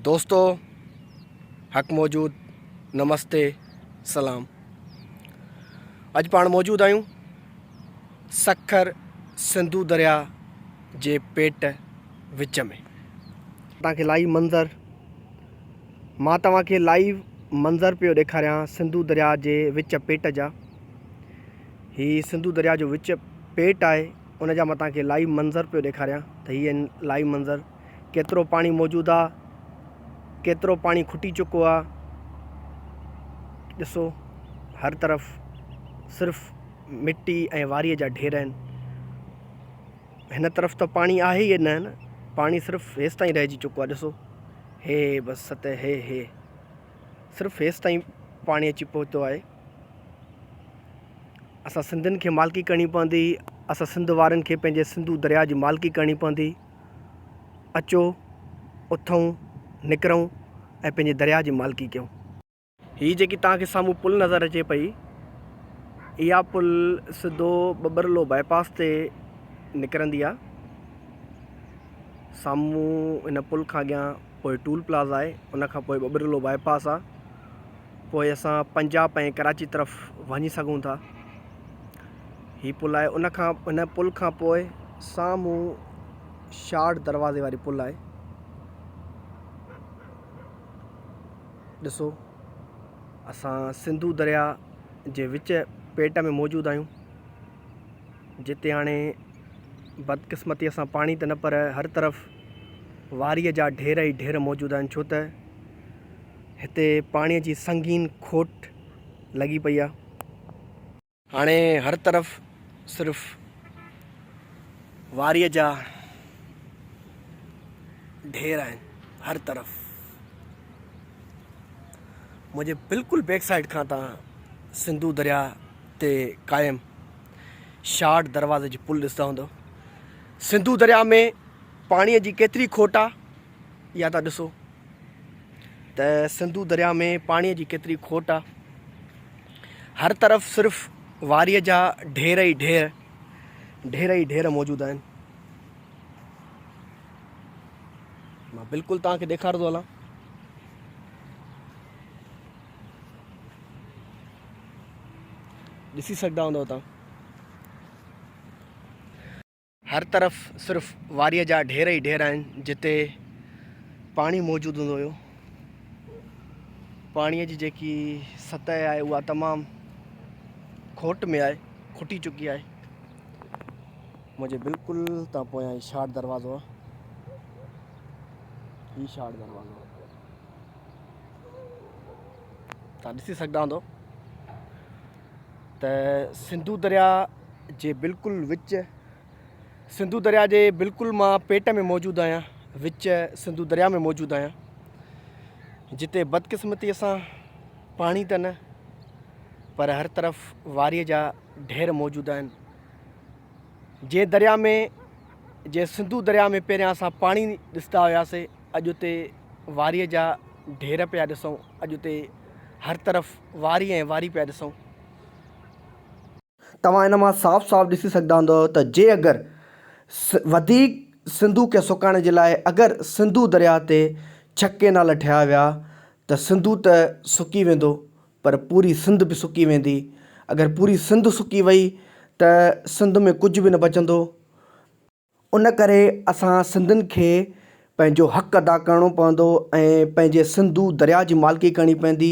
دوستو حق موجود نمستي سلام اڄ پاڻ موجود آهيون سکر سنڌو دريا جي پيٽ وچ ۾ تان کي لائيو منظر مان توهان کي لائيو منظر پيو ڏيکاريان سنڌو دريا جي وچ پيٽ جا هي سنڌو دريا جو وچ پيٽ آهي ان جا مان توهان کي لائيو منظر پيو ڏيکاريان ته هي لائيو منظر ڪيترو پاڻي موجود آ ڪيترو پاڻي کٽي چڪو آ ڏسو هر طرف صرف مٽي ۽ واري جا ڍير آهن هن طرف ته پاڻي آهي ئي نه پاڻي صرف هيس تائين رهجي چڪو آ ڏسو هي بس ست هي هي صرف هيس تائين پاڻي اچي پهتو آهي اسان سنڌين کي مالڪي ڪرڻي پوندي اسان سنڌ وارن کي پنهنجي سنڌو دريا جي مالڪي ڪرڻي پوندي اچو، اٿئون، نڪرئون ۽ پنهنجي درياهه جي مالڪي ڪيون. هي جيڪي توهان کي سامهون پل نظر اچي پئي، اها پل سڌو ٻٻرلو باء پاس تي نڪرندي آهي. سامهون ان پل کان اڳيان پوء ٽول پلازا آهي، ان کان پوء ٻٻرلو باء پاس آهي. پوء اسان پنجاب ۽ ڪراچي طرف وڃي سگهون ٿا. هي پل آهي ان کان ان پل کان پوء سامهون شاڙ دروازي واري پل آهي. ڏسو اسان سنڌو دريا جي وچ پيٽ ۾ موجود آهيون جتي هاڻي بدقسمتيء سان پاڻي ته نه پر هر طرف واريء جا ڍير ئي ڍير موجود آهن ڇو ته هتي پاڻيء جي سنگين کوٽ لڳي پئي آ. هاڻي هر طرف صرف واريء جا ڍير آهن. هر طرف. منهنجي بلڪل بيڪ سائيڊ کان تان سنڌو درياء تي قائم شاڙ دروازي جي پل ڏسندا هوندؤ. سنڌو درياء ۾ پاڻيء جي ڪيتري کوٽ آ، اها تان ڏسو. ته سنڌو درياء ۾ پاڻيء جي ڪيتري کوٽ آ. هر طرف صرف واريء جا ڍير ئي ڍير، ڍير ئي ڍير موجود آهن. مان بلڪل توهان کي ڏيکارندو هلان. ڏسي سگهندا هوندؤ توهان. هر طرف صرف واريء جا ڍير ئي ڍير آهن جتي پاڻي موجود هوندو هيو. پاڻيء جي جيڪي سطح آهي اها تمام کوٽ ۾ آهي، کٽي چڪي آهي. منهنجي بلڪل تان پويان هي شاڙ دروازو آهي. هي شاڙ دروازو آهي. تان ڏسي سگهندا هوندؤ. ته سنڌو درياء جي بلڪل وچ سنڌو درياء جي بلڪل مان پيٽ ۾ موجود آهيان وچ سنڌو درياء ۾ موجود آهيان جتي بدقسمتي سان پاڻي ته نه پر هر طرف واريء جا ڍير موجود آهن جي درياء ۾ جي سنڌو درياء ۾ پهريان اسان پاڻي ڏسندا هياسي اڄ اتي واريء جا ڍير پيا ڏسون اڄ اتي هر طرف واري ۽ واري پيا ڏسون. توهان ان مان صاف صاف ڏسي سگهندا هوندؤ ته جي اگر وڌيڪ سنڌو کي سڪائڻ جي لاء اگر سنڌو درياء تي ڇهه ڪينال ٺهيا ويا ته سنڌو ته سڪي ويندو پر پوري سنڌ به سڪي ويندي. اگر پوري سنڌ سڪي وئي ته سنڌ ۾ ڪجهه به نه بچندو ۽ ان ڪري اسان سنڌين کي پنهنجو حق ادا ڪرڻو پوندو ۽ پنهنجي سنڌو درياء جي مالڪي ڪرڻي پوندي.